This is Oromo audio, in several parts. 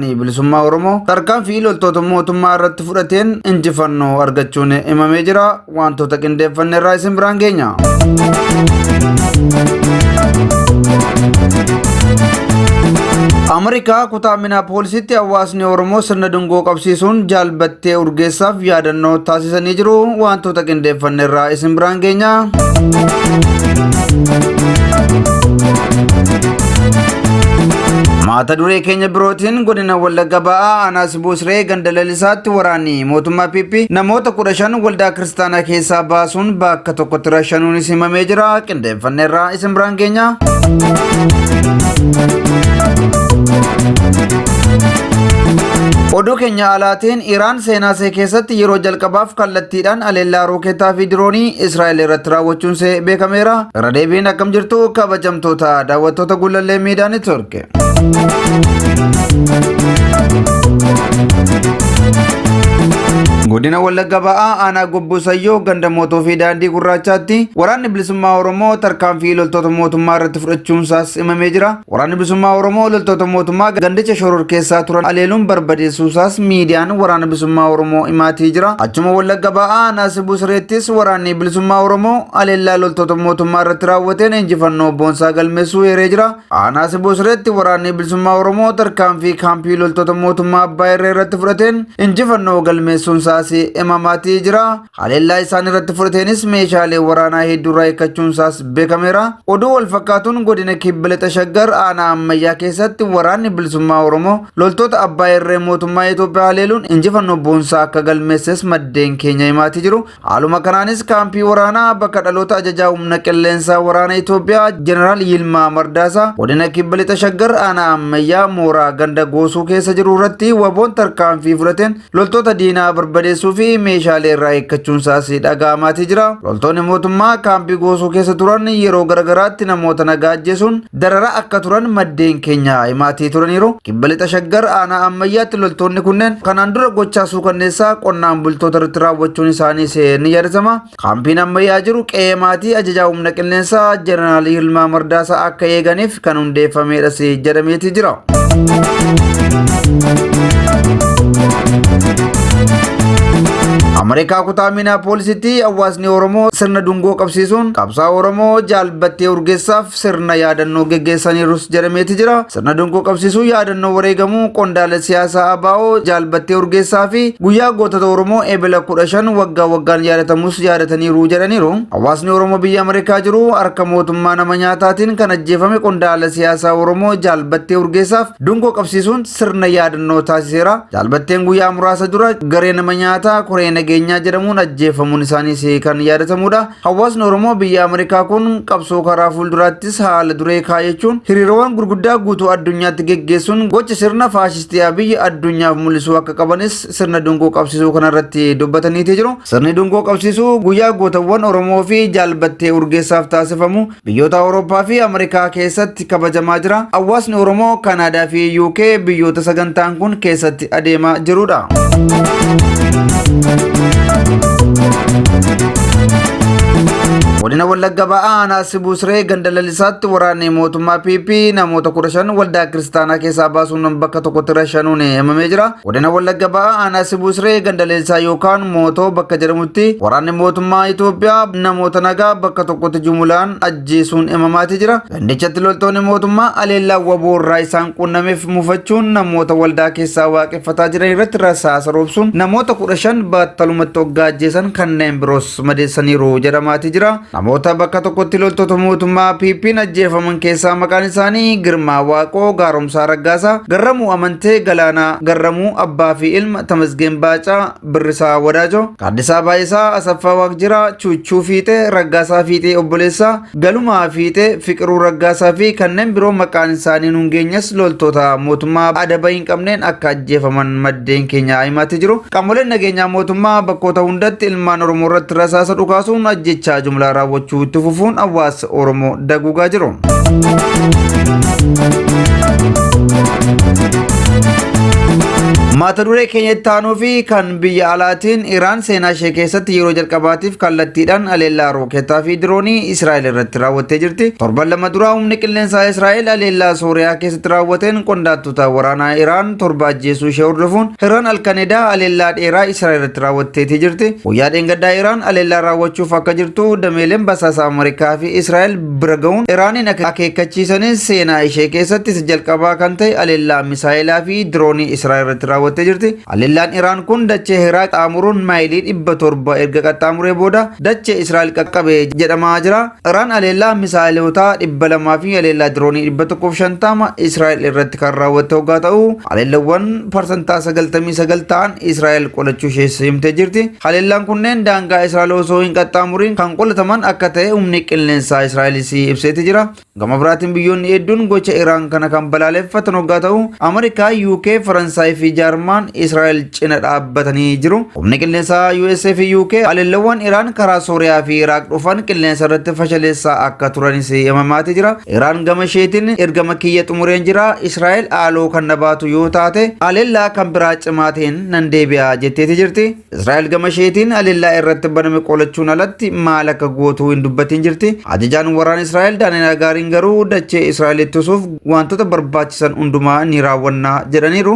Waraanni Bilisummaa Oromoo tarkaanfii loltoota mootummaa irratti fudhateen injifannoo argachuun himamee jira. Wantoota qindeeffanne irraa isin biraan geenya. Ameerikaa kutaa Minaapoolisitti hawaasni Oromoo sirna dungoo qabsiisuun jaalbatti Tee urgeessaaf yaadannoo taasisanii jiru wantoota qindeeffanne irraa isin biraan geenya. Maata duree keenya birootiin godina Wallagga ba'aa aanaa Sibuu Siree ganda lalisaatti waraanni mootummaa PP namoota kudha shan waldaa kiristaanaa keessaa baasuun bakka tokkotti rashanuunis himamee jira. Hundeeffanneerraa isin biraan keenya. Oduu keenya alaatiin Iraan seenaa see keessatti yeroo jalqabaaf kallattiidhaan aleellaa rooketaa fi diroonii Israa'el irratti raawwachuun see beekameera. Irra deebiin akkam jirtu kabajamtoota daawwattoota gullallee miidiyaa neetwork. Godina Wallagga Ba'aa aanaa Gobbuu Sayyoo ganda mootuu fi daandii gurraachaatti waraanni bilisummaa Oromoo tarkaanfii loltoota mootummaa irratti fudhachuunsaas himamee jira. Waraanni bilisummaa Oromoo loltoota mootummaa gandicha shororkeessaa turan aleeluun barbadeessuusaas miidiyaan waraana bilisummaa Oromoo himaatee jira. Achuma Wallagga Ba'aa aanaa Sibuu Sireettis waraanni bilisummaa Oromoo aleellaa loltoota mootummaa irratti raawwateen injifannoo boonsaa galmeessuu eeree jira. Aanaa Siboo Sireetti waraanni bilisummaa Oromoo tarkaanfii kaampii loltoota mootummaa abbaa irree irratti fudhateen injifannoo galmeessuun isaas himamaatii jira. Haleellaa isaan irratti fudhateenis meeshaalee waraanaa hedduurraa hiikkachuun isaas beekameera. Oduu wal fakkaatuun godina kibba lixa shaggar aanaa ammayyaa keessatti waraanni bilisummaa Oromoo loltoota abbaa irree mootummaa Itoophiyaa haleeluun injifannoo boonsaa akka galmeesses maddeen keenya himaatii jiru. Haaluma kanaanis kaampii waraanaa bakka dhaloota ajajaa humna qilleensaa waraana Itoophiyaa Jeneraal Yilmaa Mardaasaa godina kibba lixa shaggar aanaa ammayyaa mooraa ganda goosuu keessa jiru irratti waboon tarkaanfii fudhateen loltoota diinaa barbadeessuu fi meeshaalee irraa eeggachuun isaas dhaga'amaatii jira. Loltoonni mootummaa kaampii goosuu keessa turan yeroo garagaraatti namoota nagaa ajjeesuun dararaa akka turan maddeen keenya himaatii turaniiru. Kibba lixa shaggar aanaa ammayyaatti loltoonni kunneen kanaan dura gochaa suukanneessaa qonnaan bultoota irratti raawwachuun isaaniis ni yaadatama. Kaampiin ammayyaa jiru qe'ee maatii ajajaa humna qilleensaa Jeneraal Yilmaa Mardaasaa akka eeganiif kan hundeeffameedhas jedhameeti jira. Ameerikaa kutaa Minaapoolisitti hawaasni Oromoo sirna dungoo qabsiisuun qabsaa Oromoo jaalbattee urgeessaaf sirna yaadannoo geggeessaniirus jedhameeti jira. Sirna dungoo qabsiisuu yaadannoo wareegamuu qondaala siyaasaa ABO jaalbattee urgeessaa fi guyyaa gootota Oromoo Ebela 15 waggaa waggaan yaadatamus yaadataniiru jedhaniiru. Hawaasni Oromoo biyya Ameerikaa jiru harka mootummaa nama nyaataatiin kan ajjeefame qondaala siyaasaa Oromoo jaalbattee urgeessaaf dungoo qabsiisuun sirna yaadannoo taasiseera. Jaalbatteen guyyaa muraasa dura garee nama nyaataa koree nageenyaa jedhamuun ajjeefamuun isaaniis kan yaadatamudha. Hawaasni Oromoo biyya Ameerikaa kun qabsoo karaa fuulduraattis haala duree kaayachuun hiriirawwan gurguddaa guutuu addunyaatti geggeessuun gocha sirna faashistii Abiyyi addunyaaf mul'isuu akka qabanis sirna dungoo qabsiisuu kanarratti dubbataniiti jiru. Sirni dungoo qabsiisuu guyyaa gootawwan Oromoo fi jaalbattee Urgeessaaf taasifamu Biyyoota Awurooppaa fi Ameerikaa keessatti kabajamaa jira. Hawaasni Oromoo Kanaadaa fi UK biyyoota sagantaan kun keessatti adeemaa jirudha. Godina Wallagga Ba'aa Aanaa Sibuusree ganda lalisaatti waraanni mootummaa PP namoota 15 waldaa kiristaanaa keessaa baasuun bakka tokkotti rashanuun himamee jira. Godina Wallagga Bahaa aanaa Sibuu Siree ganda Leensaa yookaan Mootoo bakka jedhamutti waraanni mootummaa Itoophiyaa namoota nagaa bakka tokkotti jumulaan ajjeesuun himamaatii jira. Gandichatti loltoonni mootummaa aleellaa waboo irraa isaan qunnameef mufachuun namoota waldaa keessaa waaqeffataa jiran irratti rasaasa roobsuun namoota kudha shan baattalumatti hoggaa ajjeesan kanneen biroos sumadeessaniiru jedhamaati jira. Namoota bakka tokkotti loltoota mootummaa PP'n ajjeefaman keessaa maqaan isaanii Girmaa Waaqoo, Gaaromsaa Raggaasaa, Garramuu Amantee, Galaanaa Garramuu, Abbaa fi Ilma, Tamasgeen Baacaa, Birrisaa Wadaajoo, Gaaddisaa Baay'isaa, Asaffaa Waaqjiraa, Chuuchuu Fiixee, Raggaasaa Fiixee Obboleessaa, Galuma Fiixee, Fiqiruu Raggaasaa fi kanneen biroo maqaan isaanii nuun geenyes loltoota mootummaa adaba hin qabneen akka ajjeefaman maddeen keenya himaatti jiru. Qaamoleen nageenyaa mootummaa bakkoota hundatti ilmaan Oromoo irratti rasaasa dhukaasuun ajjechaa jumlaa raawwachuu itti fufuun hawaasa Oromoo daguugaa jiru. Mata duree keenya itti aanuu fi kan Biyya alaatiin Iraan seenaa ishee keessatti yeroo jalqabaatiif kallattiidhaan aleellaa rooketaa fi diroonii Israa'el irratti raawwattee jirti. Torban lama duraa humni qilleensaa Israa'el aleellaa Sooriyaa keessatti raawwateen qondaaltota waraanaa Iraan torba ajjeesuu ishee hordofuun Iraan alkanedaa aleellaa dheeraa Israa'el irratti raawwatteetii jirti. Guyyaa dheengaddaa Iraan aleellaa raawwachuuf akka jirtu dameeleen basaasa Ameerikaa fi Israa'el bira ga'uun Iraaniin akeekkachiisanis seenaa ishee keessatti isa jalqabaa kan ta'e aleellaa misaa'elaa fi diroonii Israa'el irratti raawwattee jirti. Haleellaan Iraan kun dachee Heeraa qaxxaamuruun maayilii 700 erga qaxxaamuree booda dachee Israa'el qaqqabe jedhamaa jira. Iraan haleellaa misaa'elootaa 200 fi haleellaa diroonii 150 Israa'el irratti kan raawwatte hoggaa ta'u, haleellawwan parsantaa 99 ta'an Israa'el qolachuu ishees himtee jirti. Haleellaan kunneen daangaa Israa'el osoo hin qaxxaamuriin kan qolataman akka ta'e humni qilleensaa Israa'elis ibseeti jira. Gama biraatiin biyyoonni hedduun gocha Iraan kana kan balaaleffatan hoggaa ta'u, Ameerikaa, UK, Faransaay fi Jaarmaan Israa'el cina dhaabbatanii jiru. Humni qilleensaa US fi UK haleellawwan Iraan karaa Sooriyaa fi Iraaq dhufan qilleensa irratti fashaleessaa akka turanis himamaati jira. Iraan gama isheetiin ergama kiyya xumureen jira, Israa'el haaloo kan na baatu yoo taate haleellaa kan biraa cimaa ta'een nan deebi'a jetteeti jirti. Israa'el gama isheetiin haleellaa irratti baname qolachuun alatti maal akka gootu hin dubbatiin jirti. Ajajaan waraana Israa'el Daani'el Hagaariin garuu dachee Israa'el ittisuuf wantoota barbaachisan hundumaa ni raawwanna jedhaniiru.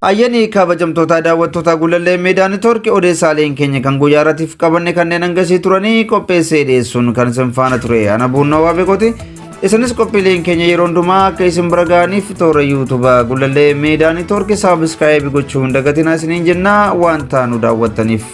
Hayyanii kabajamtootaa daawwattootaa Gulallee Miidiyaa Nitoorki odeessaaleen keenya kan guyyaa irratiif qabanne kanneen hangasii turanii qopheessee dhiyeessuun kan isin faana ture ana buunnoo waabeekooti. Isinis qophiileen keenya yeroo hundumaa akka isin bira ga'aniif toora yuutuuba Gulallee Miidiyaa Nitoorki saabiskaayibii gochuu hin dagatinaa isiniin jennaa waan taanu daawwattaniif.